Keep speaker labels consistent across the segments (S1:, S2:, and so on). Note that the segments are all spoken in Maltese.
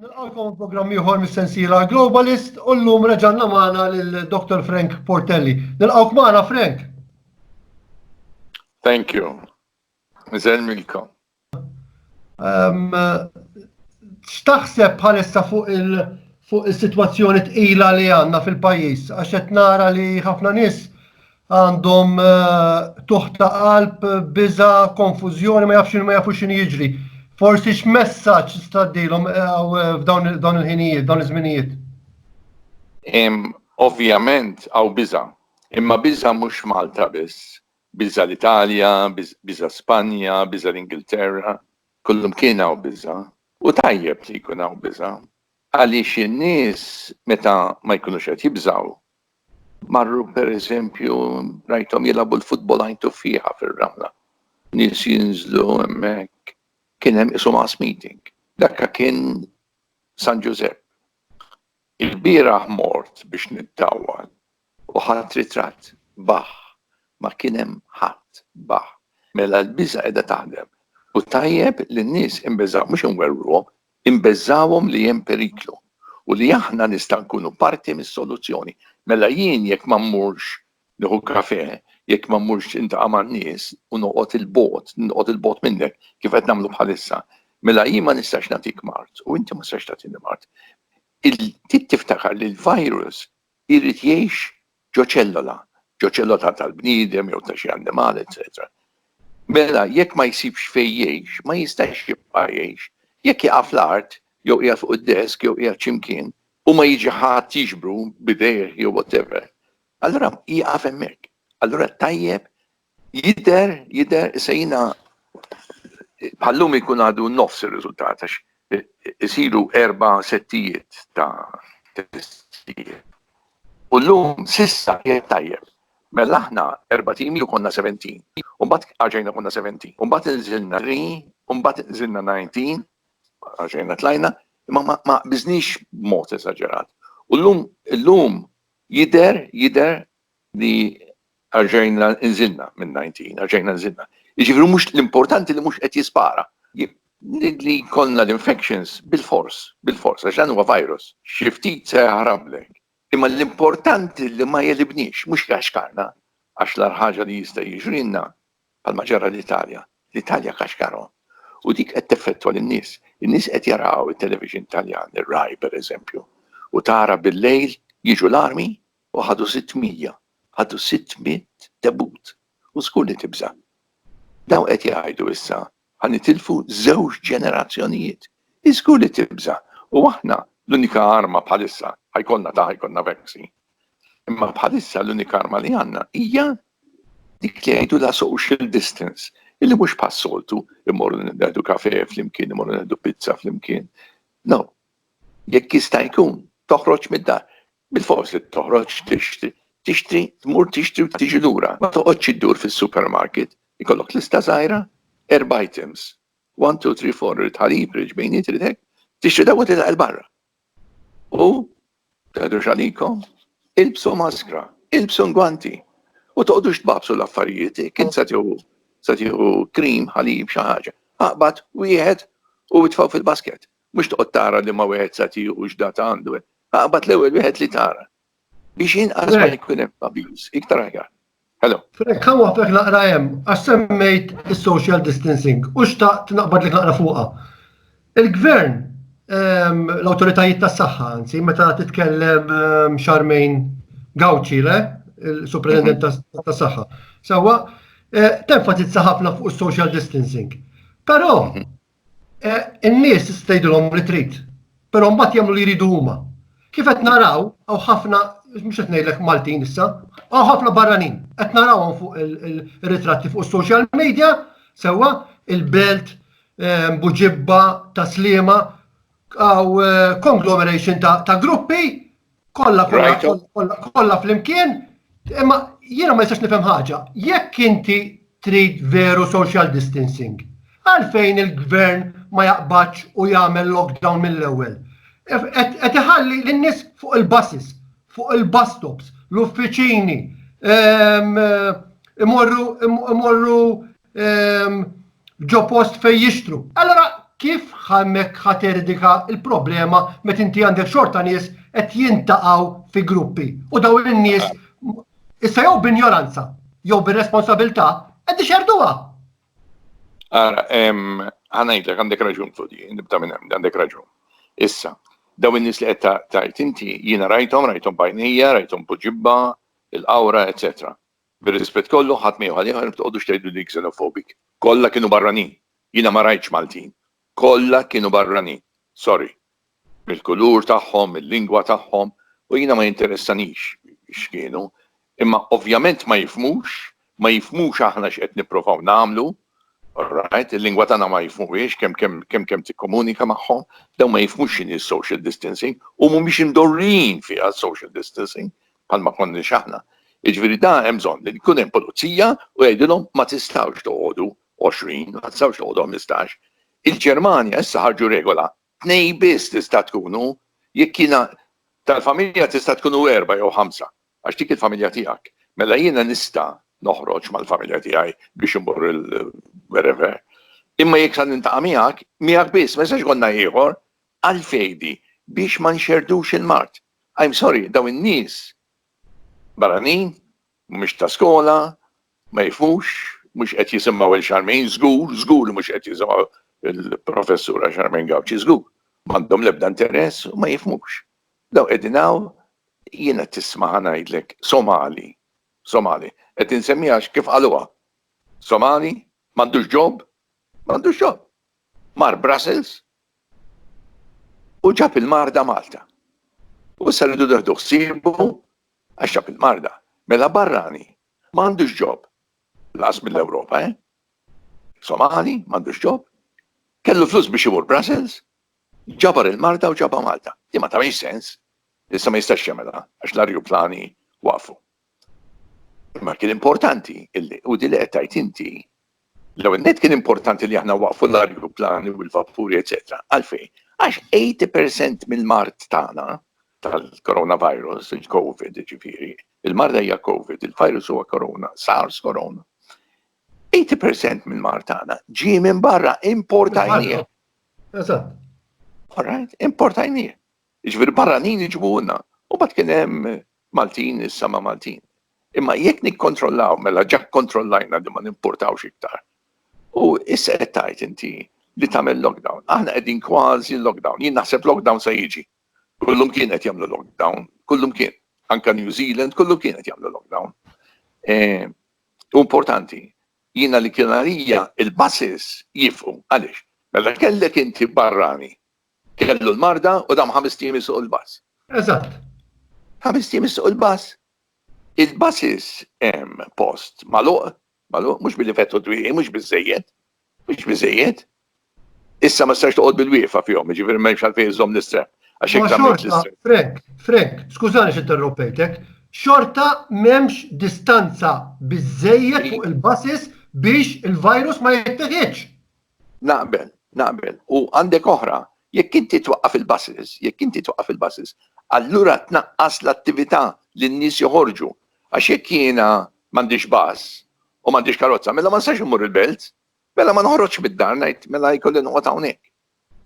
S1: Nilqakom programm ieħor mis-sensiela Globalist u llum reġanna magħna lil Dr. Frank Portelli. Nilqawk magħna Frank.
S2: Thank you. Miżel milkom.
S1: X'taħseb bħalissa fuq il- fuq is-sitwazzjoni tqila li għandna fil-pajjiż għax qed nara li ħafna nies għandhom tuħ ta' qalb, biża', konfużjoni, ma jafx ma jafux x'inhu jiġri. Forsi x'messaġġ tista' tgħaddilhom f'dawn il-ħinijiet, dawn iż-żminijiet?
S2: Ovvjament hawn biża', imma biża' mhux Malta biss, Biża' l-Italja, biża' Spanja, biża' l-Ingilterra, kullimkien hawn biża'. U tajjeb li jkun hawn biża', għaliex in-nies meta ma jkunux qed jibżgħu, marru per eżempju rajthom jilagħbu l-futbol għajn tuffieħa fir-ramla, nies jinżlu hemmhekk, kien hemm qishu mass meeting. Dakka kien San Ġużepp. Ilbieraħ mort biex niddawwal u ħadt ritratt, baħ, ma kien hemm ħadd, baħ. Mela l-biża' qiegħda taħdem u tajjeb li n-nies inbeżgħu mhux inwerwruhom, inbeżgħuhom li hemm periklu u li aħna nistgħu nkunu parti mis-soluzzjoni. Mela jien jekk ma mmurx Nieħu kafè, jekk ma mmurx intaqa' man-nies u noqgħod 'il bogħod, noqgħod 'il bogħod minnek, kif qed nagħmlu bħalissa. Mela jien ma nistax nagħtik mard u inti ma tistax tagħtini mard. Trid tiftakar li l-virus irid jgħix ġo ċellola, ġo ċellola tal-bniedem jew ta' xi annimal, eċċetera. Mela jekk ma jsibx fejn jgħix, ma jistax jibqa' jgħix. Jekk jaqa' fl-art, jew qiegħed fuq id-desk, jew qiegħed xi mkien, u ma jiġi ħadd jiġbru b'idejh jew whatever, Allura jieqaf hemmhekk. Allura tajjeb jidher jidher se jiena bħallum ikun għadu nofs ir-riżultat għax isiru erba' settijiet ta' testijiet. U llum sissa jgħid tajjeb. Mela aħna erba' timi u konna 17. U mbagħad għaġejna konna 17. U mbagħad inżilna 3, u mbagħad inżilna 19, għaġejna tlajna, imma ma biżniex b'mod esaġerat. U llum illum Jidher, jidher li erġajna nżilna minn 19, erġajna nżilna. Jiġifieri mhux l-importanti li mhux qed jispara. Li jkollna l-infections bil-fors, bil-fors, għax dan huwa virus. Xi ftit se jaħrablek. Imma l-importanti li ma jegħlibniex, mhux jgħaxkarna, għax l-agħar ħaġa li jista' jiġrilna bħalma ġara l-Italja, l-Italja kaxkaru, u dik qed teffettwa lin-nies. In-nies qed jaraw it-television Taljan, ir-Rai per eżempju, u tara bil-lejl jiġu l-armi u ħadu sitt mija, ħadu sitt mitt debut, u żgur li tibża'. Dawn qed jgħidu issa Ħa nitilfu żewġ ġenerazzjonijiet. Hi żgur li tibża'. U aħna, l-unika arma bħalissa, ħa jkollna ta' ħa jkollna vaccine. Imma bħalissa l-unika arma li għandna hija dik li jgħidulha social distance, illi mhux bħas-soltu immorru nieħdu kafè flimkien, immorru nieħdu pizza flimkien. No. Jekk jista' jkun, toħroġ mid-dar. Bilfors li toħroġ tixtri. Tixtri, tmur tixtri u tiġi lura. Ma toqgħodx iddur fis-supermarket. Ikollok lista żgħira, erba' items. One, two, three, four, irrid ħalib, irrid ġbejniet, irrid hekk. Tixtri dawk u titlaq 'il barra. U teħdux għalikom, ilbsu maskra, ilbsu ngwanti. U toqgħodux tbagħbsu l-affarijiet, jekk int se tieħu se tieħu cream, ħalib, xi ħaġa. Aqbad wieħed u itfgħu fil-basket. Mhux toqgħod tara liema wieħed sa tiegħu u x'data għandu. Aqbad l-ewwel wieħed li tara. Biex inqas ma jkun hemm abuse, iktar aħjar. Hello. Frek, ħa waħfek
S1: naqra hemm, għax semmejt is-social distancing u xtaqt naqbad li naqra fuqha. Il-gvern ehm, l-autoritajiet tas saħħa anzi, meta titkellem ehm, xarmejn gawċi, le, il-supredendent mhm. tas saħħa Sawa, eh, tenfatizza ħafna fuq social distancing. Però, mhm. Eh, in-nies tista' jgħidilhom li trid, però mbagħad jagħmlu li jridu huma. Kif qed naraw, hawn ħafna mhux qed ngħidlek Maltin issa, hawn ħafna barranin. Qed narawhom fuq il-ritratti fuq is-social media, sewwa il-belt, eh, buġibba, taslima, għaw eh, conglomeration ta' gruppi Kolla, kolla, kolla fl-imkien, imma jiena ma jistax nifhem ħaġa. Jekk inti trid veru social distancing, għalfejn il-gvern ma jaqbadx u jagħmel lockdown mill-ewwel. Qed iħalli lin-nies fuq il-buses, fuq il-bus stops, l-uffiċini, ehm, imorru imorru ġo post fejn jixtru. Allora kif ħammek ħaterdika il-problema met inti għandek xorta nies qed jintaqgħu fi gruppi u daw in-nies issa jew b'injoranza jew bir-responsabilità qed ixerduha.
S2: Ara, ħanajdlek għandek raġun fudi, nibda minn hemm, għandek raġun. Issa, daw in-nies li qed tajt inti jiena rajthom, rajthom bajnija, rajthom buġibba, il-qawra, eċetera. Bir-rispett kollu, ħadd ma jew ħalieħor imma tqogħdux tgħiduli xenophobic. Kollha kienu barranin. Jiena ma rajtx Maltin. Kollha kienu barranin. Sorry. Mill-kulur tagħhom, mil-lingwa tagħhom, u jiena ma jinteressanix x'kienu. Imma ovvjament ma jifhmux, ma jifhmux aħna x'qed nipprovaw nagħmlu, alright, il-lingwa tagħna ma jifhmuhiex kemm kemm kemm kemm tikkomunika magħhom, dawn ma jifhmux x'inhi s-social distancing u mhumiex imdorrijin fiha s-social distancing. bħal ma konniex aħna. Jiġifieri da hemm bżonn li jkun hemm pulizija u jgħidilhom ma tistgħux toqogħdu għoxrin, ma tistgħux toqogħdu ħmistax. Il-Ġermanja issa ħarġu regola, tnejn biss tista' tkunu, jekk jiena tal-familja tista' tkunu erbgħa jew ħamsa, għax dik il-familja tiegħek. Mela jiena nista' noħroġ mal-familja tiegħi biex immur il wherever. Imma jekk sa nintaqa' miegħek, miegħek biss, ma jistax ikollna ieħor. Għalfejn di? Biex ma nxerrdux il-mard. I'm sorry, dawn in-nies barranin, mhumiex ta' skola, ma jifhmux, mhux qed jisimgħu 'il Charmaine, żgur, żgur li mhux qed jisimgħu 'il Professura Charmaine Gauci, żgur. M'għandhom l-ebda interess u ma jifhmux. Dawn qegħdin hawn, jiena tisma' ħa ngħidlek, Somali, Somali, qed insemmieha għax kif qaluha, Somali, m'għandux job, m'għandux job. Mar Brussels, u ġab il-marda Malta. U issa rridu neħdu ħsiebu għax ġab il-marda. Mela barrani, ma għandux ġob. Laqas mill-Ewropa, eh? Somali, ma għandux ġob. Kellu flus biex imur Brussels, ġabar il-marda u ġaba Malta. Li ma tagħmilx sens. Issa ma jistax jagħmilha għax l-arjuplani waqfu. Imma kien importanti, u di li qed tgħid inti, l-ewwel net kien importanti li aħna waqfu l-arju plani u l-vapuri, eċetera. Għalfejn? Għax 80% mill-mart tagħna tal-coronavirus, il-COVID, ġifieri, il-marda hija COVID, il-virus huwa corona, SARS corona. 80% mill-mart tagħna ġie minn barra importajnieh. Eżatt. All right, importajnieh. Jiġifieri barranin iġibuhulna. U mbagħad kien hemm Maltin issa ma' Maltin. Imma jekk nikkontrollaw mela ġa kkontrollajna li ma nimpurtawx iktar. U issa qed tgħid inti li tagħmel lockdown. Aħna qegħdin kważi lockdown. Jien naħseb lockdown se jiġi. Kullumkien qed jagħmlu lockdown, kullumkien. Anke New Zealand kullumkien qed jagħmlu lockdown. U importanti, jiena li kien għalija il-buses jifqu. Għaliex? Mela kellek inti barrani Kellu l-marda u dam ħamest ijiem isuq il-bus. Eżatt.
S1: Ħamest
S2: ijiem isuq il-bus? Il-buses hemm post magħluq, magħluq, mhux billi fetħu t-twieqi, mhux biżżejjed, mhux biżżejjed. Issa ma tistax toqgħod bil-wieqfa fihom, jiġifieri m'hemmx għalfejn iżżomm l-istrep. Għax hekk tagħmel l-istrep. Frek, frek, skużani
S1: xi interrompejtek, xorta m'hemmx distanza biżżejjed fuq il-buses biex il-virus ma jitteħidx. Naqbel, naqbel. U għandek oħra, jekk inti twaqqaf il-buses, jekk inti twaqqaf il-buses, allura tnaqqas l-attività li n-nies joħorġu. Għax jekk jiena m'għandix bus u m'għandix karozza, mela ma nistax immur il-Belt, mela ma noħroġx mid-dar ngħid mela jkolli noqgħod hawnhekk.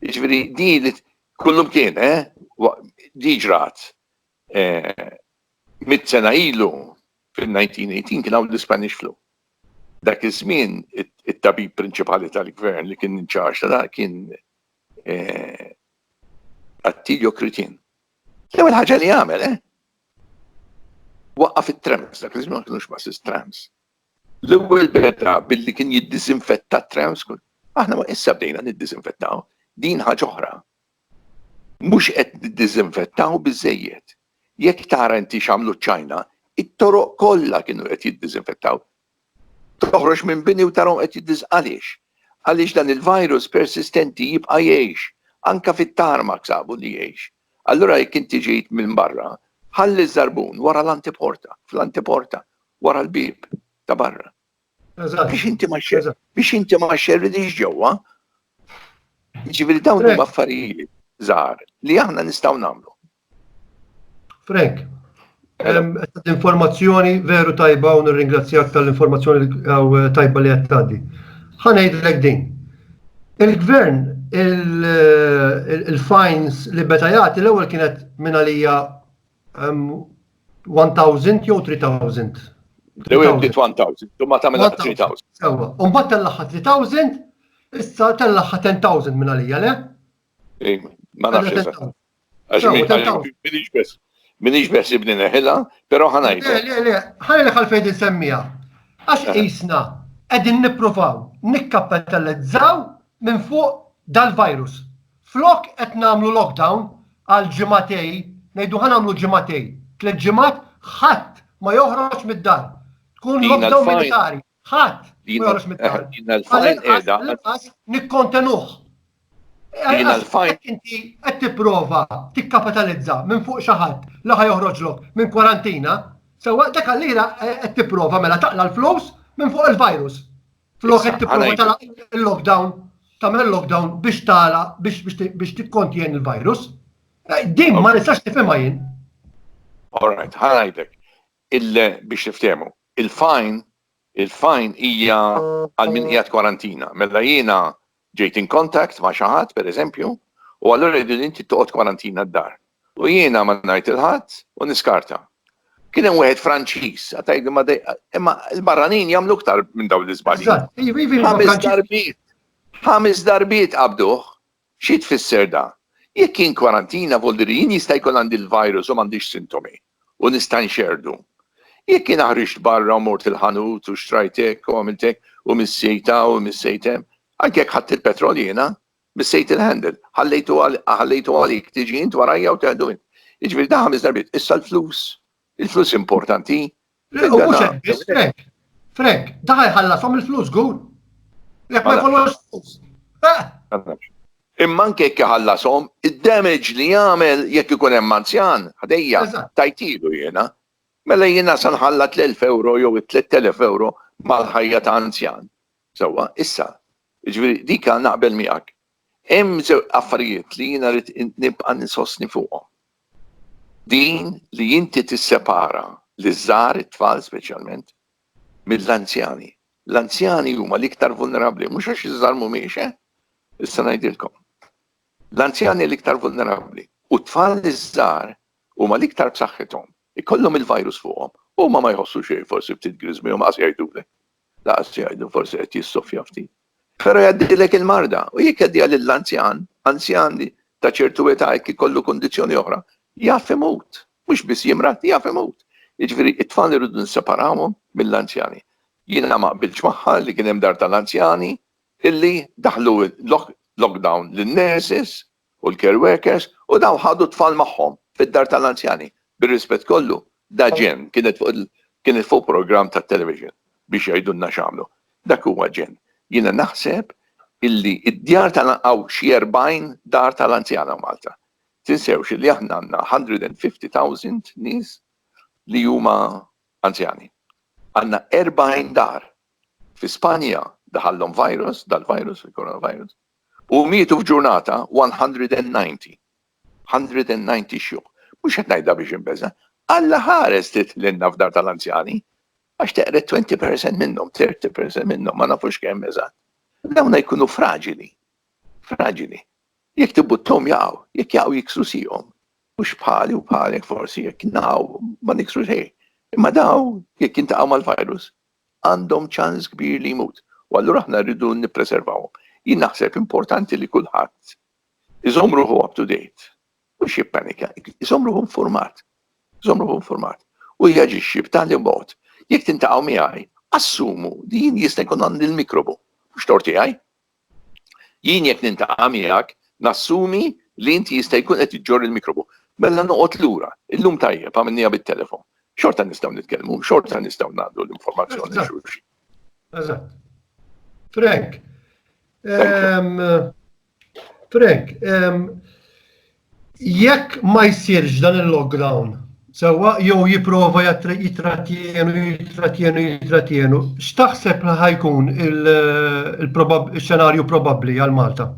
S1: Jiġifieri di li kullum kien, eh? Di ġrat. Mitt sena ilu, fin-1918, kien hawn l-Ispanish Flu. Dak iż-żmien it-tabib prinċipali tal-gvern li kien in charge ta' dan kien Attilio Crittin. L-ewwel ħaġa li għamel, waqqaf it-trams, dak iż-żmien ma kinux buses, trams. L-ewwel beda billi kien jiddisinfetta t-trams. Aħna issa bdejna niddisinfettaw, din ħaġa oħra. Mhux qed niddiżinfettaw biżżejjed. Jekk tara inti x'għamlu ċ-Ċajna, it-toroq kollha kienu qed jiddiżinfettaw. Toħroġ minn bini u tarahom qed jiddiż. Għaliex? Għaliex dan il-virus persistenti jibqa' jgħix. Anke fit-tarmac sabu li jgħix. Allura jekk inti ġejt minn barra, ħalli ż-żarbun wara l-anteporta, fl-anteporta, wara l-bieb ta' barra. Biex inti ma xerri, biex inti ma xerri diġ ġewwa. Ġifieri dawn huma affarijiet żgħar li aħna nistgħu nagħmlu. Frank, l-informazzjoni veru tajba u nirringrazzjak tal-informazzjoni eh, tajba li qed tgħaddi. Ħanejdlek din. Il-gvern il-fines li beta jagħti l-ewwel kienet minn għalija 1000 jew 3000? L-ewwel
S2: bdiet 1000, u ma tagħmilha 3000. Sewwa, u mbagħad
S1: tellagħha 3000, issa tellagħha 10000 minn għalija, le? Ej,
S2: ma nafx. Għax minix bes ibni neħila, pero ħanajt. Le, le, le, ħanajt
S1: għal fejn insemmija. Għax eh. isna, edin niprofaw, nikkappetalizzaw minn fuq dal-virus. Flok qed nagħmlu lockdown għal ġimagħtej, ngħidu ħa nagħmlu ġimagħtej, tliet ġimgħat ħadd ma joħroġ mid-dar. Tkun lockdown militari. Ħadd ma joħroġ mid-dar. Għall-inqas
S2: nikkontenuh.
S1: Inti qed tipprova tikkapitalizza minn fuq xi ħadd li ħa joħroġlok minn kwarantina, sewwa dak allira qed tipprova mela taqla l-flus minn fuq il-virus. Flok qed tipprova tagħlaq il-lockdown, tagħmel lockdown biex tala biex tikkontjen il-virus. Eh, din ma nistax tifhimha jien. All
S2: right, ħanajdek. Biex niftehmu, il-fajn il-fajn hija għal min qiegħed kwarantina. Mela jiena Ġejt in contact ma' xi ħadd, pereżempju, u allura jridu li inti toqgħod kwarantina d-dar. U jiena ma ngħid lil ħadd u niskarta. Kien hemm wieħed Franċiż, għad tgħidli ma dej, imma l-barranin jagħmlu iktar minn dawn l-iżbalji. Eżatt, iva, iva, iva, Ħames Franċiż. darbiet, ħames darbiet qabduh. Xi tfisser da? Jekk jien kwarantina vuol dire jien jista' jkun għandi l-virus u m'għandix sintomi. u nista' nxerrdu. Jekk jiena ħriġt barra u mort il-ħanut u xtrajt hekk u għamilt hekk u missejt hawn u missejt hemm, anke jekk ħadt il-petrol jiena, missejt il-handle, ħallejtu għalik, tiġi int warajja u teħdu int. Jiġifieri dan ħames darbiet. Issa l-flus? Il-flus importanti? Frank,
S1: Frank, daħal ħallasom il-flus gur. Jek ma jkollux flus. Imma
S2: anke jekk ħallasom, id-damage li jagħmel jekk ikun hemm anzjan, ħdejja, tajtilu jiena. Mela jiena san ħalla 3,000 euro jew 3,000 euro mal-ħajja ta' anzjan. Sewwa, issa, ġifieri dika naqbel miegħek. Hemm żewġ affarijiet li jiena rrid nibqa' ninsostni fuqhom. Din li inti tissepara liż-żgħar, it-tfal speċjalment, mill-anzjani. L-anzjani huma l-iktar vulnerabbli, mhux għax iż-żgħar mhumiex, eh? Issa ngħidilkom. L-anzjani l-iktar vulnerabbli u t-tfal iż-żgħar huma l-iktar b'saħħithom. Ikollhom il-virus fuqhom, huma ma jħossu xejn, forsi ftit griżmi u maqas jgħidulek. Lanqas jgħidu forsi qed jissoffja ftit. Però jgħaddilek il-marda u jekk jgħaddiha lil anzjan, anzjan li ta' ċertu età jekk ikollu kundizzjoni oħra, jaf imut. Mhux biss jimrad, jaf imut. Jiġifieri t-tfal irridu nisseparawhom mill-anzjani. Jiena ma qbiltx magħha li kien hemm dar tal-anzjani illi daħħlu lockdown lin-nurses u l-care workers u dawn ħadu t-tfal magħhom fid-dar tal-anzjani. Bir-rispett kollu, daGen, kienet fuq il, kienet fuq programm tat-television biex jgħidulna x'għamlu. Dak huwa Gen. Jiena naħseb illi d-djar tal, hawn xi 40 dar tal-anzjana f'Malta. Tinsewx illi aħna għandna 150,000 nies li huma anzjani. Għandna 40 dar. Fi Spanja daħallhom virus, dal-virus, il-coronavirus. U mietu f'ġurnata 190. 190 xjuħ. Mhux qed ngħidha biex inbeża'. Alla ħares tidħlilna f'dar tal-anzjani għax teqred 20 percent minnhom, 30 percent minnhom, ma nafux kemm eżatt. Dawna jkunu fraġili. Fraġili. Jekk tibbutthom jaqgħu, jekk jaqgħu jiksru sieqhom. Mhux bħali u bħalek forsi jekk naqgħu ma niksru xejn. Imma dawn jekk jiltaqgħu mal-virus għandhom ċans kbir li jmut u allura aħna rridu nippreservawhom. Jien naħseb importanti li kulħadd iżomm ruħu up to date, mhux jippanika, iżomm ruħu infurmat, iżomm ruħu infurmat u jaġixxi b'tali mod jekk tintaqgħu miegħi assumu li jien jista' jkun għandi l-mikrobu, mhux torti għaj, Jien jekk nintaqa' miegħek nassumi li inti jista' jkun qed iġġorr il-mikrobu. Mela noqgħod lura. Illum tajjeb, għamilniha bit-telefon. Xorta nistgħu nitkellmu, xorta nistgħu ngħaddu l-informazzjoni lil xulxin. Eżatt.
S1: Frank. Frank, Jekk ma jsirx dan il-lockdown, sewwa jew jipprova jitrattienu, jitrattienu, jitrattienu, x'taħseb li ħajkun il-xenarju probabbli għal Malta?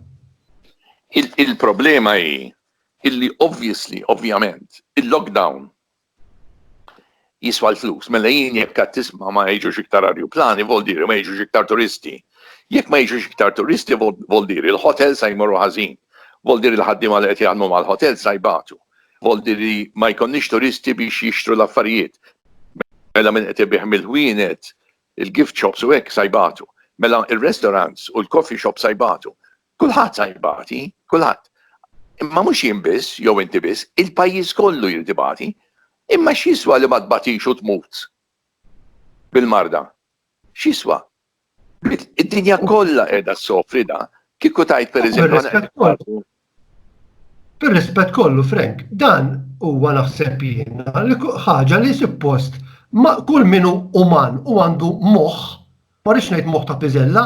S1: Il-problema
S2: hi illi obviously, ovvjament, il-lockdown jiswa l-flus. Mela jien jekk qed tisma' ma jiġux iktar arjuplani vol diri ma jiġux iktar turisti. Jekk ma jiġux iktar turisti vol diri l-hotel sa jmorru ħażin. Vol diri l-ħaddiema li qed jaħdmu mal-hotel sa jbatu. Vol diri ma jkollniex turisti biex jixtru l-affarijiet. Mela min qed ibigħ mill-ħwienet, il-gift shops u hekk sa jbatu. Mela r-restaurants u l-coffee shops sa jbatu. Kulħadd sa jibati, kulħadd. Imma mhux jien biss, jew inti biss, il-pajjiż kollu jrid ibati. Imma x'jiswa li ma tbatix u tmut bil-marda? X'jiswa? Id-dinja kollha qiegħda ssofri da, kieku tajt pereżempju.
S1: Per-rispett kollu, Frank, dan huwa naħseb jien li ħaġa li suppost ma' kull minu uman u għandu moħħ ma rridx ngħid moħħ ta' piżella,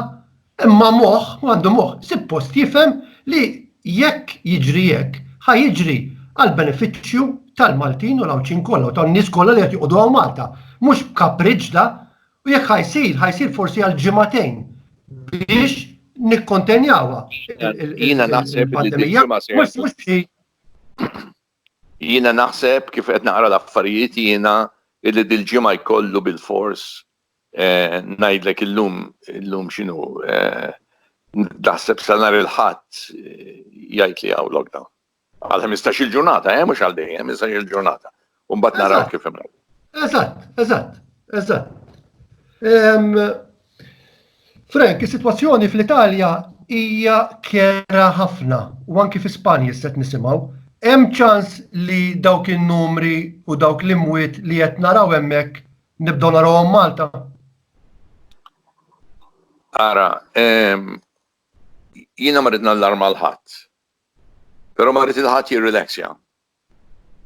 S1: imma moħħ, u għandu moħħ, sippost jifhem li jekk jiġri hekk, ħa jiġri għall-benefiċċju tal-Maltin u l-Għawdxin kollha u tan-nies kollha li qed joqogħdu hawn Malta. Mhux b'kapriġġ da, u jekk ħa jsir, ħa jsir forsi għal ġimagħtejn biex nikkontenjawha. Jiena
S2: naħseb li d-ġimgħa se Jiena naħseb kif qed naqra l-affarijiet jiena illi dil-ġimgħa jkollu bil-fors Ngħidlek illum illum x'inhu taħseb sa nhar il-Ħadd jgħid li hawn lockdown. Għal ħmistax-il ġurnata, eh, mhux għal dejjem, ħmistax il ġurnata. U mbagħad naraw kif imur. Eżatt, eżatt,
S1: eżatt. Frank, is-sitwazzjoni fl-Italja hija kera ħafna u anki fi Spanja set nisimgħu. Hemm ċans li dawk in-numri u dawk l-imwiet li qed naraw hemmhekk Nibdew narawhom Malta?
S2: Ara, jiena ma rrid nallarma l ħadd. Però ma rrid il ħadd jirrilaxja.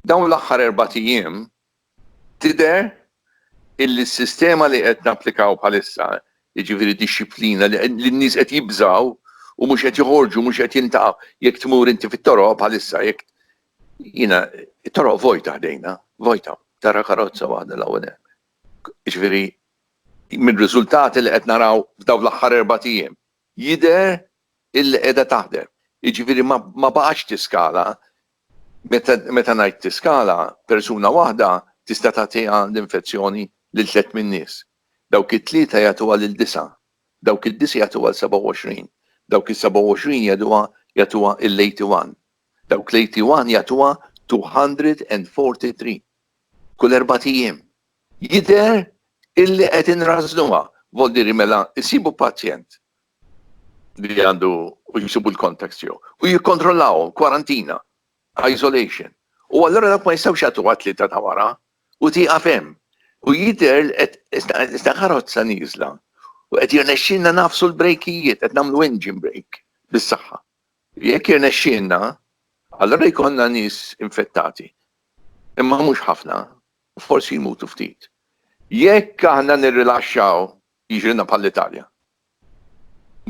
S2: Dawn l-aħħar erbat ijiem tidher illi s-sistema li qed napplikaw bħalissa, jiġifieri dixxiplina li n-nies qed jibżgħu u mhux qed joħorġu, mhux qed jiltaqgħu. Jekk tmur inti fit-toroq bħalissa, jekk Jiena it-toroq vojta ħdejna, vojta, tara karozza waħda l-ewwel hemm. Jiġifieri mir-riżultati li qed naraw f'dawn l-aħħar erbat ijiem, jidher illi qiegħda taħdem. Jiġifieri ma baqgħetx tiskala, meta ngħid tiskala, persuna waħda tista' tagħtiha l-infezzjoni lil tliet min-nies. Dawk it-tlieta jagħtuha lil disgħa, dawk id-disgħa jagħtuha l-27, dawk is-27 jagħtuha il-81. Dawk l-81 jagħtuha 243 kull erbat ijiem. Jidher illi qed inrażżnuha, voldieri mela jsibu pazjent li għandu u jsibu l-contacts tiegħu u jikkontrollahom, kwarantina, isolation. U allura dawk ma jistgħux jagħtuha t-Tlieta ta' wara u tieqaf hemm. U jidher li qed iżda karozza nieżla u qed jirnexxilna nagħfsu l-brejkijiet, qed nagħmlu engine brake bis-saħħa. Jekk jirnexxielna, allura jkollna nies infettati, imma mhux ħafna, u forsi jmutu ftit. Jekk aħna nirrilaxxaw, jiġrilna bħall-Italja.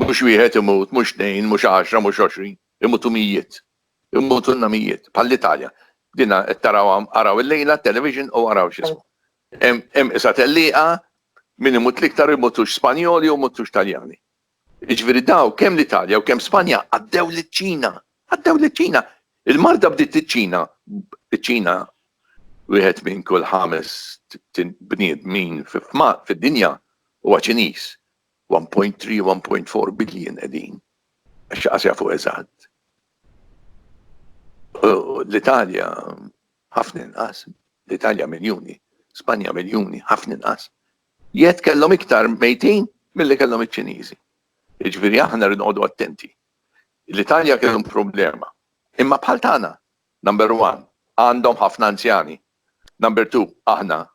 S2: Mhux wieħed imut, mhux tnejn, mhux għaxra, mhux għoxrin, imutu mijiet. Imutulna mijiet, bħall-Italja. Din qed tarawha, araw illejla t-television u araw x'ismu. Hemm qisha tellieqa, min imut l-iktar imutux Spanjoli u jmutux Taljani. Jiġifieri dawk kemm l-Italja u kemm Spanja għaddew liċ-Ċina. Għaddew liċ-Ċina. Il-marda bdiet iċ-Ċina. Iċ-Ċina wieħed minn kull ħames bniedmin fid-dinja huwa Ċiniż. 1.3, 1.4 billion qegħdin. Għax xi qas jafu eżatt. L-Italja ħafna inqas. L-Italja miljuni. Spanja miljuni. Ħafna inqas. Jekk kellhom iktar mejtin milli kellhom iċ-Ċiniżi. Jiġifieri aħna rridu noqogħdu attenti. L-Italja kellhom problema. Imma bħal tagħna, number one, għandhom ħafna anzjani. Number two, aħna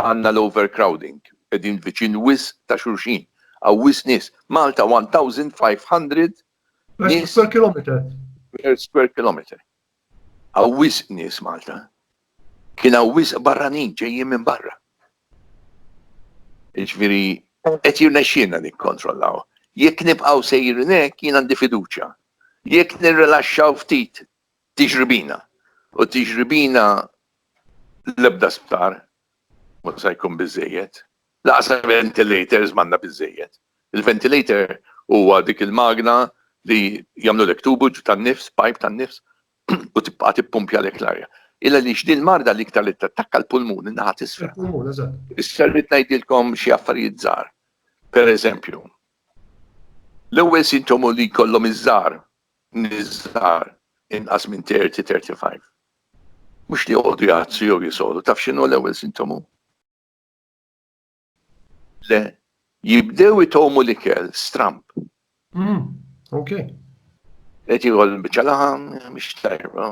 S2: għandna l-overcrowding, qegħdin viċin wisq ta' xulxin, hawn wisq nies. Malta 1,500 nies. Per square kilometer.
S1: Per square
S2: kilometer. Hawn wisq nies Malta. Kien hawn wisq barranin ġejjin minn barra. Jiġifieri qed jirnexxielna nikkontrollaw. Jekk nibqgħu sejrin hekk jien għandi fiduċja. Jekk nirrilaxxaw ftit tiġri bina. U tiġri bina l-ebda sptar Mhux se jkun biżżejjed. Lanqas ventilators m'għandna biżżejjed. Il-ventilator huwa dik il-magna li jagħmlulek tubu tan-nifs, pipe tan-nifs, u tibqa' tippumpjalek l-arja. Illa għaliex din il-marda l-iktar li tattakka l-pulmun, in-naħa t'isfel. Il-pulmun, eżatt. Issa rrid ngħidilkom xi affarijiet żgħar. Pereżempju, l-ewwel sintomu li jkollhom iż-żgħar, nies żgħar, inqas minn 30, 35, Mhux li joqogħdu jgħattsu jew jisolgħu. Taf x'inhu l-ewwel sintomu? Le, jibdew itgħumu l-ikel, stramb.
S1: Ok.
S2: Qed jieħol biċċa laħam, mhix tajba.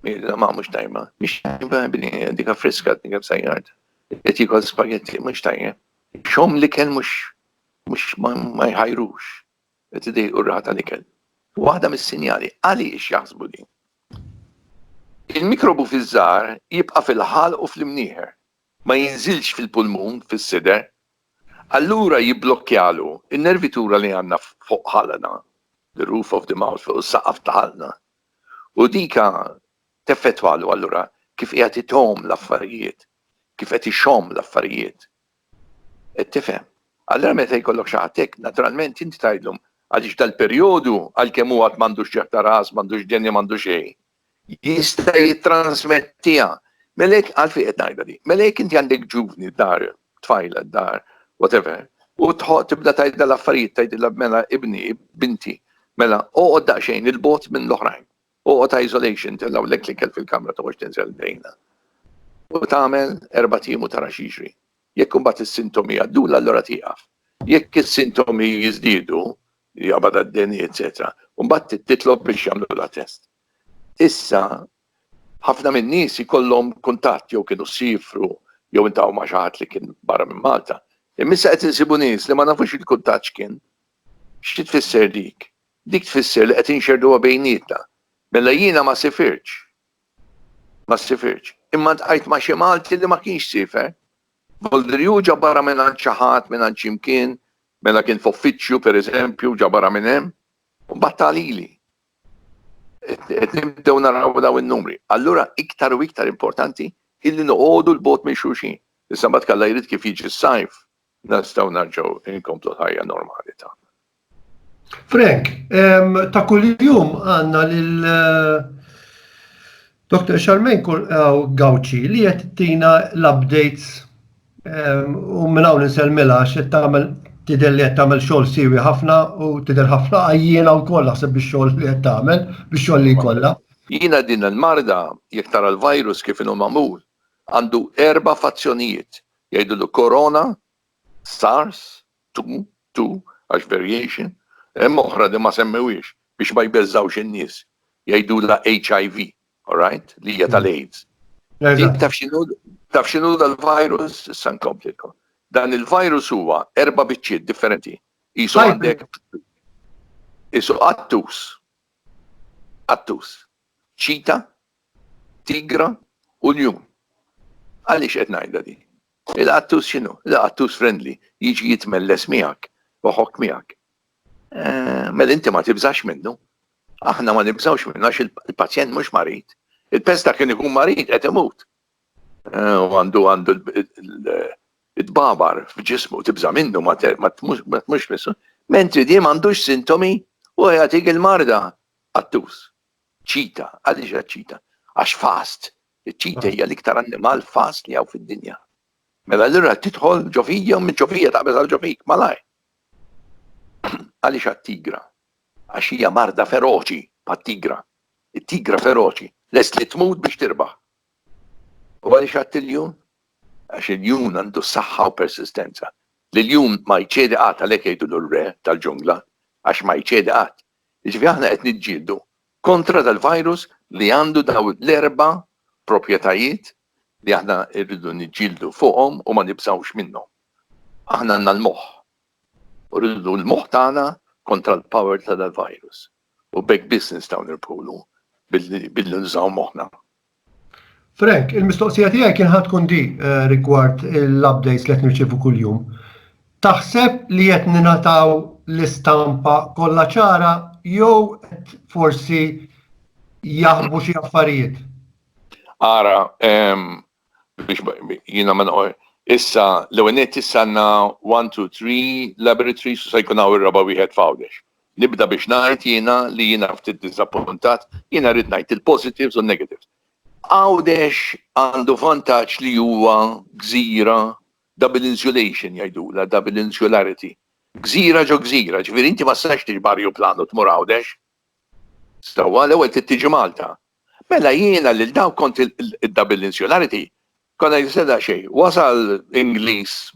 S2: Mira ma mhux tajba. Mhix tajba bini, dika friska, dika b'sajjard. Qed jieħol spagetti, mhux tajjeb. Xom l-ikel mhux ma jħajrux. qed idejqu r-raħa tal-ikel. Waħda mis-sinjali għaliex jaħsbu din. Il-mikrobu fiż-żahar jibqa' fil-ħalq u fl-imnieħer, ma jinżilx fil-pulmun, fis-sider. Allura jibblokkjalu n-nervitura li għandna fuq ħalqna, the roof of the mouth, fuq is-saqaf ta' ħalqna. U dik teffettwalu allura kif qiegħed itgħomm l-affarijiet, kif qed ixomm l-affarijiet. Qed tifhem? Allura meta jkollok xi ħadd hekk, naturalment inti tgħidlhom, għaliex dal-perjodu, għalkemm hu għad m'għandux ġerħ ta' ras, m'għandux denja, m'għandux xejn, jista' jittrażmettiha. Mela jekk, għalfejn qed ngħidha din? Mela jekk inti għandek ġuvni d-dar, tfajla d-dar, whatever, u tħoq tibda tgħidha l-affarijiet, tgħidilha mela ibni, binti, mela oqgħod daqsxejn il-bogħod minn l-oħrajn. Oqgħod ta' isolation, tellgħulek l-ikel fil-kamra toħroġ tinżel l-drejna u tagħmel erbat ijiem u tara x'jiġri. Jekk imbagħad is-sintomi jgħaddula allura tieqaf. Jekk is-sintomi jiżdiedu, jaqbad għad-deni eċċetera, imbagħad titlob biex jagħmlulha test. Issa ħafna min-nies ikollhom kuntatt jew kienu siefru jew intaw ma' xi ħadd li kien barra minn Malta. Imma issa qed insibu nies li ma nafux il-kuntatt x'kien. Xi tfisser dik? Dik tfisser li qed inxerrduha bejnietna. Mela jiena ma sifirtx. Ma sifirtx. Imma ltqajt ma' xi Malti li ma kienx siefer. Voldriju ġabarha mingħand xi ħadd, mingħand xi mkien, mela kien f'uffiċċju, per eżempju, u ġabarha minn hemm. U mbagħad ta lili. Qed nibdew naraw dawn in-numri. Allura iktar u iktar importanti hi li noqogħdu 'l bogħod minn xulxin. Issa mbagħad kalla jrid kif jiġi s-sajf, Nistgħu nerġgħu nkomplu l-ħajja normali tagħna.
S1: Frank, ta' kuljum għandna lil Dr. Charmaine Gauci li qed tina l-updates u minn hawn insellmilha għax qed tagħmel tidher li qed tagħmel xogħol siewi ħafna u tidher ħafna għajjiena wkoll naħseb bix-xogħol li qed tagħmel, bix-xogħol li jkollha. Jiena din
S2: il-marda jekk tara l-virus kif inhu magħmul għandu erba' fazzjonijiet. Jgħidulu Corona, Sars, Tu, Tu, għax variation, hemm oħra li ma semmewhiex biex ma jbeżżgħux in-nies, jgħidulha HIV, alright, li hija tal-AIDS. Din taf x'inhu taf x'inhu dal-virus issa nkomplilkom. Dan il-virus huwa erba' biċċiet differenti. Qisu għandek qisu qattus. Qattus. Ċita Tigra u ljun. Għaliex qed ngħidha din? Il-qattus x'inhu? Il-qattus friendly, jiġi jitmelles miegħek, iħokk miegħek. Mela inti ma tibżax minnu. Aħna ma nibżgħux minnu għax il-pazjent mhux marid. Il-pest ta' kien ikun marid qed imut. U għandu għandu it-tbabar f'ġismu tibża' minnu ma tmux missu. Mentri di m'għandux sintomi u jagħtik il-marda. Qattus. Ċita, għaliex hija ċita? Għax fast. Iċ-ċita hija l-iktar annimal fast li hawn fid-dinja. Mela allura tidħol ġo fija u minn ġo fija taqbeż għal ġo fik, malajr. Għaliex għat-tigra? Għax hija marda feroċi bħat-tigra. It-tigra feroċi, lest li tmut biex tirbaħ. U għaliex għat-tiljun? Għax il-jun għandu saħħa u persistenza. L-jun ma jċedi qatt għalhekk jgħidu l-re tal-ġungla, għax ma jċedi qatt. Jiġifieri aħna qed niġġieldu kontra dal-virus li għandu dawn l-erba' proprjetajiet li aħna rridu niġġieldu fuqhom u ma nibżgħux minnhom. Aħna għandna l-moħħ u rridu l-moħħ tagħna kontra l-power ta' dal-virus u b'hekk biss nistgħu nirbħulu billi nużaw moħħna.
S1: Frank, il-mistoqsija tiegħi kien ħad tkun di rigward l-updates li qed nirċievu kuljum. Taħseb li qed ningħataw l-istampa kollha ċara jew qed forsi jaħbu xi affarijiet? Ara,
S2: biex jiena ma noqgħod, issa l-ewwel nett issa għandna one, two, three laboratories u se jkun hawn ir-raba' wieħed f'Għawdex. Nibda biex ngħid jiena li jiena ftit diżappuntat, jiena rrid ngħid il-positives u n-negatives. Għawdex għandu vantaġġ li huwa gżira double insulation jgħidulha, double insularity. Gżira ġo gżira, ġifieri inti ma tistax tiġi b'ajruplan u tmur Għawdex. Sewwa, l-ewwel trid tiġi Malta. Mela jiena lil dawk kont id-double insularity konna jiseda xejn. Wasal Ingliż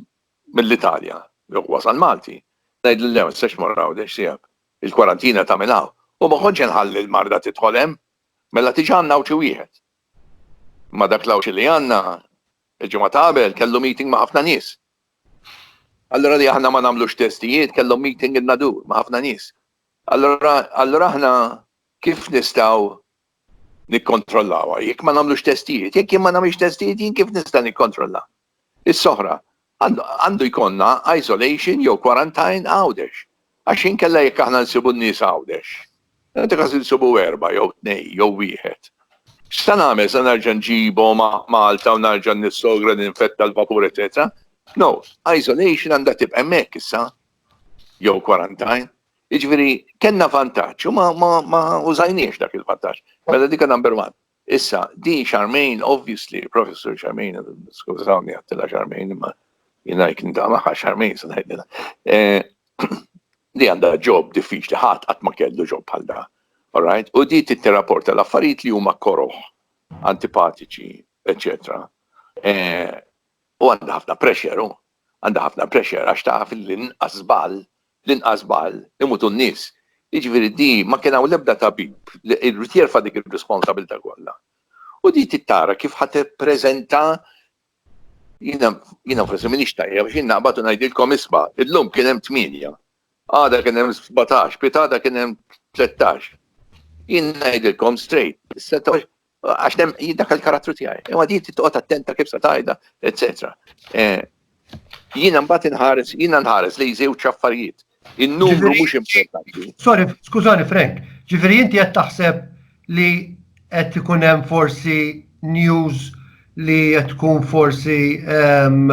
S2: mill-Italja, jew wasal Malti, ngħidlu le ma tistax tmur Għawdex tiegħek, il-kwarantina tagħmel hawn, u ma kontx inħalli l-marda tidħol hemm, mela tiġi għand l-Għawdxi wieħed. Imma dak l-Għawdxi li għandna, il-ġimgħa ta' qabel kellu meeting ma' ħafna nies. Allura li aħna ma nagħmlux testijiet kellhom meeting in-Nadur ma' ħafna nies. Allura allura aħna kif nistgħu nikkontrollawha jekk ma nagħmlux testijiet? Jekk jien ma nagħmilx testijiet jien kif nista' nikkontrolla? Issa oħra, għandu jkollna isolation jew quarantine Għawdex. Għax inkella jekk aħna nsibu n-nies Għawdex, nagħti każ insibu erbgħa jew tnejn jew wieħed, x'se nagħmel, se nerġa' nġibhom Malta u nerġa' nissogra li ninfetta l-vapur eċċetera? No, isolation għandha tibqa' hemmhekk issa jew quarantine. Jiġifieri kellna vantaġġ u ma użajniex dak il-vantaġġ. Mela dik number one. Issa, din Charmaine, obviously, Professor Charmaine, skużawni għattila Charmaine, imma jina jkin da maħħa Charmaine, sa najdina. Eh, li għanda ġob diffiċli ħadd qatt ma kellu ġob bħal da. Alright? U di titterapporta l-affarijiet li huma koroħ, antipatiċi, eccetera. Eh, u għandha ħafna pressure, għandha ħafna pressure għax taf li nqas żball L-inqas b'għall imutu n-nies. Jiġifieri di ma kien hawn l-ebda tabib li jrid jerfa' dik ir-responsabilità kollha. U di trid tara kif ħa tippreżenta Jiena jiena forsi m'iniex tajjeb għax jien naqbad u ngħidilkom isma' illum kien hemm tmienja, għada kien hemm sbatax, piegħtada kien hemm tlettax. Jien ngħidilkom straight, Għax dem dak il-karattru tiegħi. Imma din titqgħod attenta kif se tajda, eċetera. Eh, jiena mbagħad inħares, jiena nħares li jżew ċaffarijiet. In-numru mhux importanti. Sorry, skużani
S1: Frank, ġifieri inti qed taħseb li qed ikun hemm forsi news li qed tkun forsi ehm,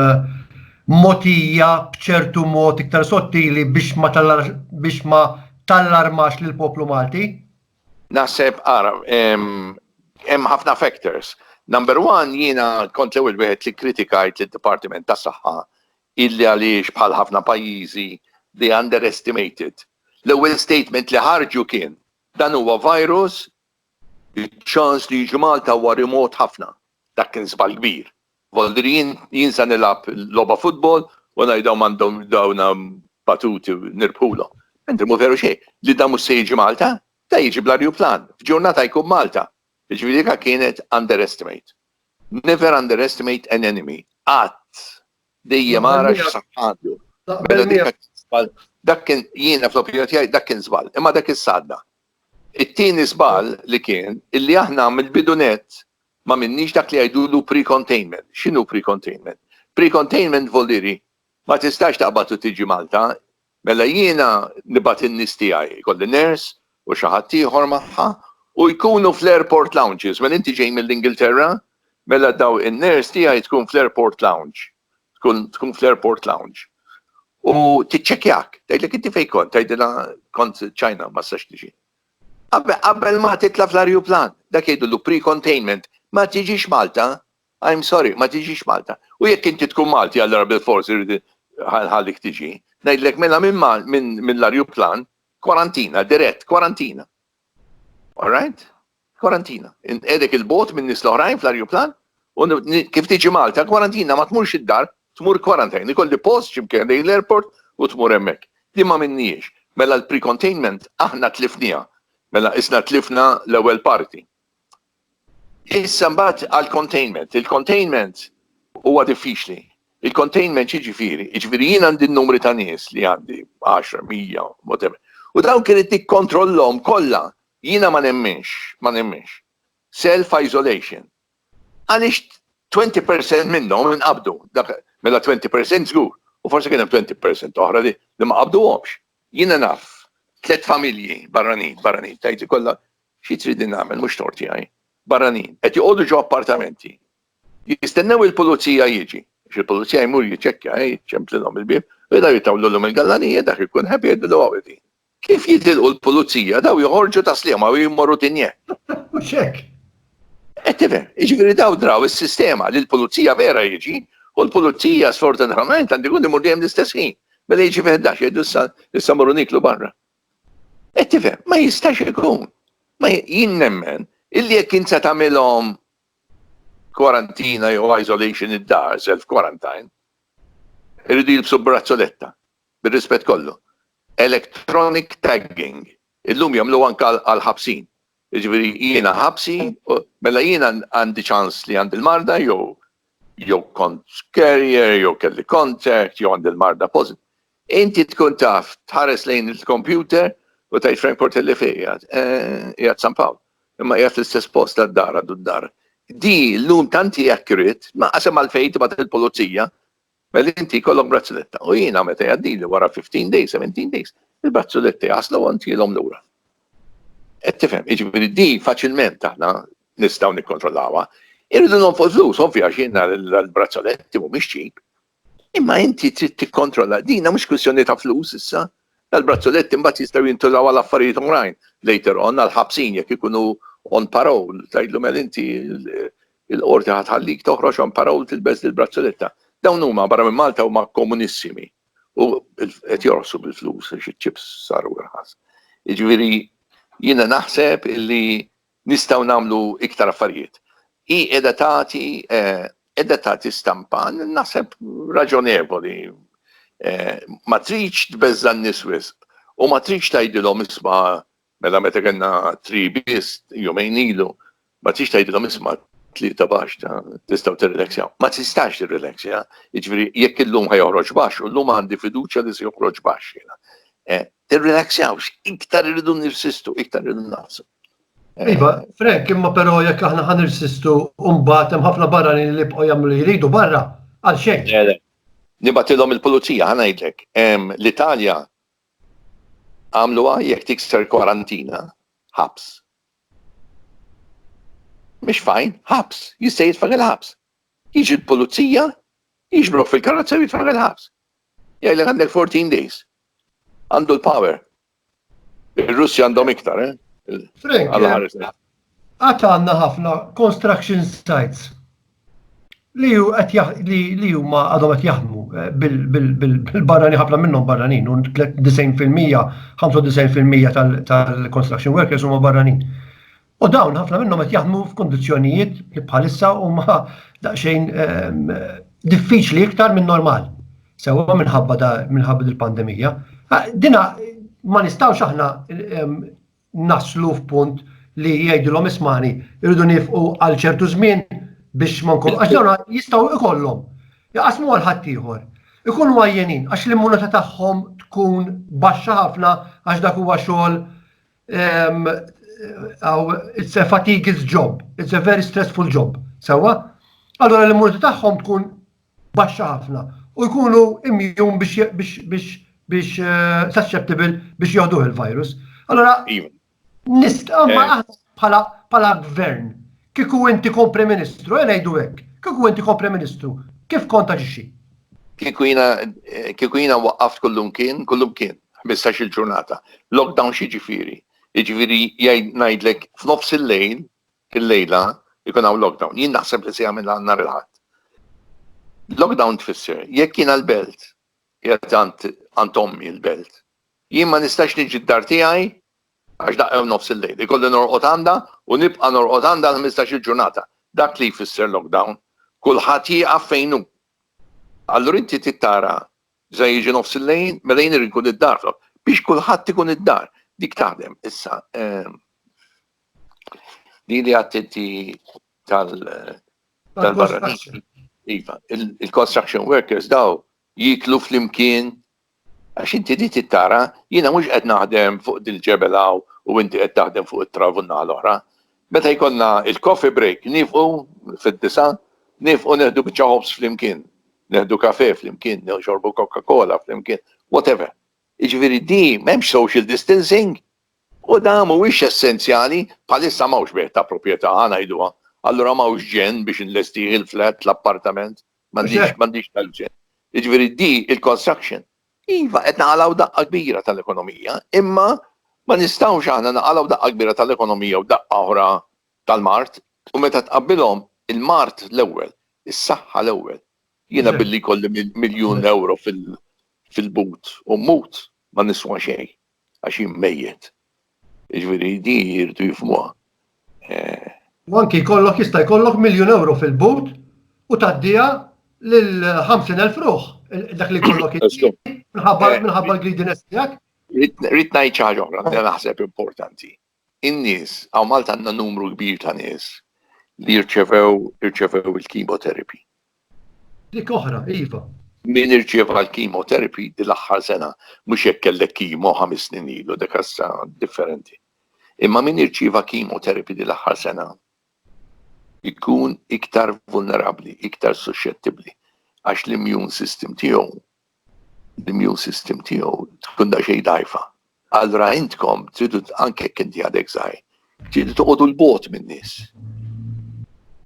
S1: motija bċertu mod iktar sottili biex ma biex ma tallarmax lill poplu Malti? Naħseb
S2: ara hemm ħafna factors. Number one jiena kont l-ewwel wieħed li kkritikajt lid-Dipartiment tas-Saħħa illi għaliex bħal ħafna pajjiżi they underestimated. L-ewwel statement li ħarġu kien dan huwa virus iċ-ċans li jiġi Malta huwa remot ħafna. Dak kien żball kbir. Volder Jien jien sa nilgħab logħba futbol u ngħid dawn m'għandhom dawn batuti nirbħulhom. Mentri mhu veru xejn. Li dan mhux se jiġi Malta? Dan jiġi bl-arjuplan. F'ġurnata jkun Malta. Jiġifieri dik kienet underestimate. Never underestimate an enemy. Qatt. Dejjem ara x'saħħa għandu. Mela dik kienet żball. Dak kien jiena fl-opinjoni tiegħi dak kien żball. Imma dak issa għadda. It-tieni żball li kien illi aħna mill-bidu nett M'għamilniex dak li jgħidulu pre-containment. X'inhu pre-containment? Pre-containment voliri ma tistax taqbad u tiġi Malta, mela jiena nibgħat in-nies tiegħi, ikolli nurse u xi ħadd ieħor magħha, u jkunu fl-airport lounges. Mela inti ġej mill-Ingilterra, mela daw in-nurse tiegħi tkun fl-airport lounge, tkun fl-airport lounge. U tiċċekkjak, tgħidlek inti fejn kont, tgħidilha kont China ma stax tiġi. Qabel ma titla' fl-arjuplan, dak jgħidulu pre-containment, ma tiġix Malta, I'm sorry, ma tiġix Malta. U jekk inti tkun Malti allura bilfors irrid inħallik tiġi. Ngħidlek mela mill-arjuplan, kwarantina, dirett, kwarantina. All right? Kwarantina. Inqegħdek 'il bogħod min-nies l-oħrajn fl-arjuplan u kif tiġi Malta, kwarantina, ma tmurx id-dar, Tmur quarantine, ikolli post xi mkien ħdejn l-airport u tmur hemmhekk. Din ma għamilnihiex. Mela l-precontainment aħna tlifniha. Mela qisna tlifna l-ewwel parti. Issa mbagħad għall-containment. Il-containment huwa diffiċli. Il-containment x'jiġifieri? Jiġifieri jien għandi n-numri ta' nies li għandi, 10, 100, whatever. U dawk irid nikkontrollhom kollha. Jiena ma nemminx, ma nemminx. Self-isolation. Għaliex 20 per cent minnhom inqabdu? Dak mela 20 per cent żgur, u forsi kien hemm 20 per cent oħra li ma qabduhomx. Jiena naf tliet familji barranin, barranin, tgħidli kollha xi tridni nagħmel, mhux tort tiegħi, barranin, qed joqogħdu ġo appartamenti, jistennew il-pulizija jiġi, għax il-pulizija jmur jiċċekkja, jiċċemplilhom il-bieb, u jaraw jitawlulhom il-gallanija, dak ikun happy jgħidlu l-għawdin. Kif jitilqu l-pulizija daw joħorġu ta' Sliema u jimmorru Tinje. Mhux hekk.
S1: Qed tifhem,
S2: jiġifieri daw draw is-sistema li l-pulizija vera jiġi u l-pulizija sfortunatament għandu jkun imur dejjem l-istess ħin. Mela jiġi fi 11 jgħidu issa issa morru niklu barra. Qed tifhem, ma jistax ikun. Ma jien nemmen illi jekk int se tagħmilhom kwarantina jew isolation id-dar, self quarantine, irridu jilbsu brazzoletta. bir-rispett kollu, electronic tagging, illum jagħmluha anke għall-ħabsin. Jiġifieri jiena ħabsi, mela jiena għandi ċans li għandi l-marda jew jew kont carrier, jew kelli contact, jew għandi l-marda pożitiv. Inti tkun taf tħares lejn il-kompjuter u tgħid Frank Portelli fejn qiegħed. Qiegħed San Pawl. Imma qiegħed fl-istess post għad-dar għadu d-dar. Di llum tant hi accurate, ma qasem għalfejn tibgħat il-pulizija Mela inti jkollok brazzuletta u jiena meta jgħaddili wara 15 days, 17 days, il-brazzuletti jaslu u ntilhom lura. Qed tifhem, jiġifieri di faċilment aħna nistgħu nikkontrollawha. Irridu nonfqu flus, ovvja għax jiena l-brazzuletti mhumiex ċip. Imma inti trid tikkontrolla, dina mhux kwistjoni ta' flus issa, l-brazzuletti mbagħad jistgħu jintużaw għal affarijiet oħrajn later on għal ħabsin jekk ikunu on parole, tgħidlu mel inti Il-Qorti ħa tħallik toħroġhom para u tilbes dil-brazzoletta. Dawn huma barra minn Malta huma komunissimi u qed jorqsu bil-flus għax iċ-chips saru irħas. Jiġifieri jiena naħseb illi nistgħu nagħmlu iktar affarijiet. Hi qiegħda tagħti qiegħda tagħti stampa naħseb raġonevoli. Ma tridx tbeżża' n-nies wisq u ma tridx tgħidilhom isma' Mela meta kellna tri biss jumejn ilu, ma tix tgħidilhom isma' tlieta baxx ta' tistgħu tirrilaxjaw. Ma tistax tirrilaxja, jiġifieri jekk illum ħa joħroġ baxx u llum għandi fiduċja li se joħroġ baxx jiena. Tirrilaxjawx, iktar irridu nirsistu, iktar irridu naqsu. Iva,
S1: Frank, imma però jekk aħna ħa nirsistu u mbagħad hemm ħafna barranin li jibqgħu jagħmlu li jridu barra għal xejn. Nibatilhom
S2: il-pulizija, ħa ngħidlek. L-Italja Għamluha jekk tikser kwarantina, ħabs. Mhix fajn, ħabs, jista' jitfagħel il-ħabs. Jiġi l-pulizija, jiġbrok fil-karozza u jitfagħel il-ħabs. Jgħidlek għandek 14 days. Għandu l-power. Ir-Russi għandhom iktar, eh?
S1: Frank, Għad għandna ħafna construction sites li ju qed li li huma għadhom qed jaħdmu eh, bil-barrani ħafna minnhom barranin u 90% 95% tal-construction workers huma barranin. U dawn ħafna minnhom qed jaħdmu f'kundizzjonijiet li bħalissa huma daqsxejn ehm, diffiċli iktar minn normal. Sewwa minħabba minħabba il-pandemija. Dina ma nistgħux aħna ehm, naslu f'punt li jgħidilhom ismani irridu nifqu għal ċertu żmien biex ma nkunu għax dawn jistgħu ikollhom jaqasmu għal ħaddieħor. Ikunu għajjenin għax l-immunità tagħhom tkun baxxa ħafna għax dak huwa xogħol ehm, it's a fatiguous job, it's a very stressful job, sewa? Allora l-immunità tagħhom tkun baxxa ħafna u jkunu immjun biex susceptible biex joħduh il-virus. Allora, nistgħu aħna bħala gvern, kieku inti kon Prim Ministru, e ngħidu hekk, kieku inti kon Prim Ministru, kif kont aġixxi?
S2: Kieku jiena waqqaft kullum kien, kullum kien, 15 il-ġurnata. Lockdown xi ġifieri? Jiġifieri ngħidlek f'nofs il-lejl Illejla jkun hawn lockdown. Jien naħseb li se jagħmilha nhar il-Ħadd. Lockdown tfisser jekk jiena l-Belt, qiegħed għand għand ommi l-Belt, jien ma nistax niġi d-dar tiegħi għax daqqa u nofs il-lejl. Ikolli norqod għandha u nibqa' norqod għandha għal ħmistax-il ġurnata. Dak li jfisser lockdown. Kulħadd jieqaf fejn hu. Allura inti trid tara Meta jiġi nofs il-lejl, mela jien irid inkun id-dar, fl-aħħar, biex kulħadd ikun id-dar. Dik taħdem. Issa, din li għad inti tal-barranin. Iva, il-construction workers daw jiklu fl-imkien għax inti di tittara, jiena mhux qed naħdem fuq dil-ġebel hawn u inti qed taħdem fuq it-trav u n-naħa l-oħra. Meta jkollna il-coffee break niefqu fid-disgħa, niefqu neħdu biċċa ħobż flimkien, neħdu kafè flimkien, nixorbu Coca Cola flimkien, whatever. Jiġifieri di m'hemmx social distancing u da mhuwiex essenzjali, bħalissa m'hawnx bejgħ ta' proprjetà, ħa ngħiduha, allura m'hawnx ġenn biex inlestih il-flat, l-appartament, m'għandix m'għandix tal-ġenn. Jiġifieri di il-construction Iva, qed naqalgħu daqqa kbira tal-ekonomija, imma ma nistgħux aħna naqalgħu daqqa kbira tal-ekonomija u daqqa oħra tal-mard, u meta tqabbilhom, il-mard l-ewwel, is-saħħa l-ewwel. Jiena billi jkolli miljun ewro fil-but u mmut, ma niswa xejn. għax jien mejjet. Jiġifieri di jridu jifhmuha.
S1: U anki jkollok jista' jkollok miljun ewro fil-but u tgħaddiha lil 50,000 ruħ dak li jkollok minħabba l-greediness tiegħek. Rrid ngħid
S2: xi ħaġa oħra li naħseb importanti. in-nies, hawn Malta għandna numru kbir ta' nies li jirċevew, irċevew il-chemotherapy.
S1: Dik oħra, iva. Min irċieva
S2: l-chemotherapy din l-aħħar sena, mhux jekk kellek kimo ħames snin ilu, dik issa differenti. Imma min irċieva chemotherapy din l-aħħar sena jkun iktar vulnerabbli, iktar suxxettibbli għax l-immune system tiegħu l-immune system tiegħu tkun daqsxejn dgħajfa. Allura intkom tridu anke jekk inti għadek żgħir, tridu toqgħodu 'l bogħod min-nies.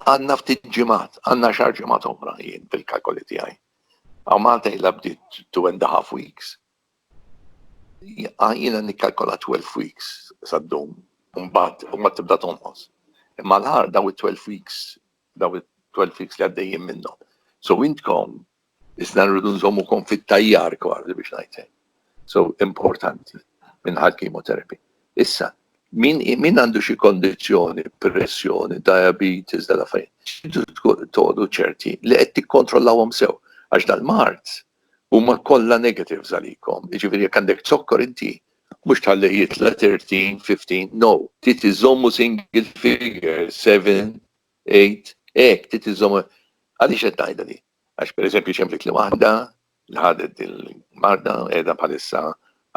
S2: Għandna ftit ġimgħat, għandna xahar ġimgħat oħra jien fil-kalkoli tiegħi. Hawn Malta ilha bdiet two and a half weeks. Jiena nikkalkola 12 weeks sa ddum, u mbagħad tibda tonqos. Imma l-aħħar dawn it-12 weeks, dawn it-12 weeks li għaddejjin minnhom. So intkom Iżda rridu nżommukom fit-tajjar kważi biex ngħid hekk. So importanti minħal chemotherapy. Issa, min għandu xi kondizzjoni, pressjoni, diabetes, dal affarijiet, tridu toqgħodu ċerti li qed tikkontrollawhom sew għax dal-mard huma kollha negatives għalikom. Jiġifieri jekk għandek zokkor inti mhux tħallih jitla' 13, 15, no. Trid iżommu single figure, 7, 8, hekk trid iżommu. Għaliex qed ngħidha din? Għax pereżempju ċemplet li waħda li ħadet din il-marda qiegħda bħalissa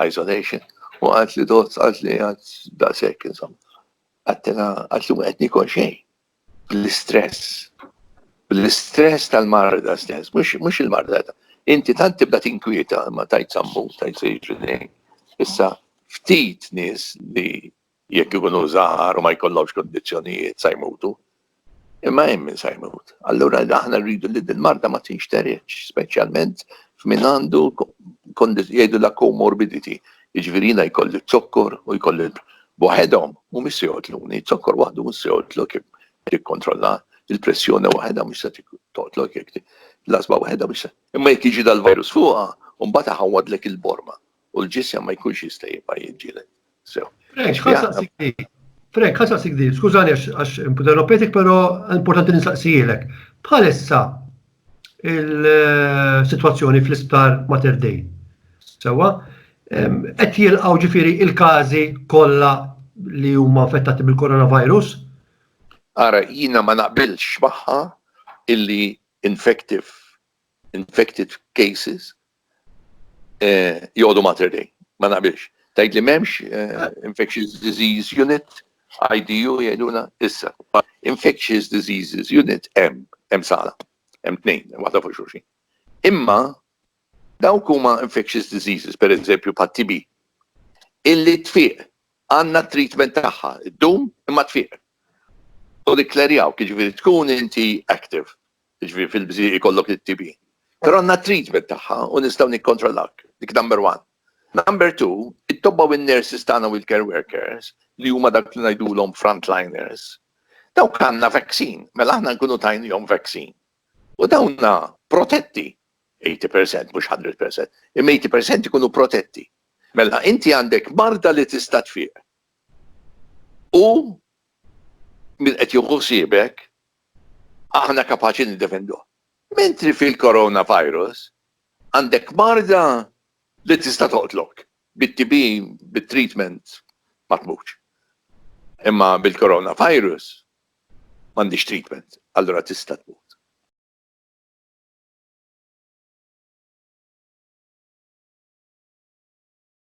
S2: isolation u qalet li dott qalet li għad daqshekk insomma. Għattilha qalet li qed nikol xejn bl-istress. Bl-istress tal-marda stess, mhux il-marda Inti tant tibda tinkwieta ma tajt sammu, tajt sejġri Issa ftit nies li Jekk ikunu żgħar u ma jkollhomx kundizzjonijiet sa jmutu. Imma hemm min sa jmut. Allura aħna rridu li din marda ma tinxteredx, speċjalment f'min għandu jgħidu la comorbidity. Jiġifieri jiena jkolli zokkor u jkolli waħedhom mhumiex se joqtluni, zokkor waħdu mhux se joqtlok tikkontrolla il-pressjoni waħedha mhux se toqtlok jekk l-asba waħedha mhux se. Imma jekk jiġi dal-virus fuqha, mbagħad iħawwadlek il-borma. u l-ġisem ma jkunx jista' jibqa' jiġġieled. Sew. Frank, ħassaqsik
S1: di. Frank, ħassaqsik di. Skużani għax interrompetik, però importanti nistaqsijilek. Bħalissa il-sitwazzjoni fl-isptar Mater Dei. Sewa, qed jilqgħu ġifieri il-każi kollha li huma infettati bil-coronavirus?
S2: Ara, jiena ma naqbilx magħha illi infective, infected cases joqogħdu Mater Dei. Ma naqbilx. Tgħid li m'hemmx Infectious Disease Unit, IDU jgħidulha issa. Infectious Diseases Unit hemm, hemm sala. Hemm tnejn, waħda fuq xulxin. Imma dawk huma infectious diseases, pereżempju bħat-TB, illi tfiq għandna t-treatment tagħha, ddum imma tfiq. U nikklerjaw, jiġifieri tkun inti active, Jiġifieri fil-bżieq ikollok it-TB. Però għandna t-treatment tagħha u nistgħu nikkontrollawk. Dik number one. Number two, it-tobba u n-nurses tagħna u l-care workers li huma dak li ngħidulhom frontliners, dawk għandna vaccine, mela aħna nkunu tajniehom vaccine. U dawna protetti 80% mhux 100%, imma 80% ikunu protetti. Mela inti għandek marda li tista' tfieq. U min qed jieħu ħsiebek aħna kapaċi niddefenduh. Mentri fil-coronavirus għandek marda li tista' toqtlok. Bit-TB, bit-treatment ma tmutx. Imma bil-coronavirus m'għandhiex treatment, allura tista' tmut.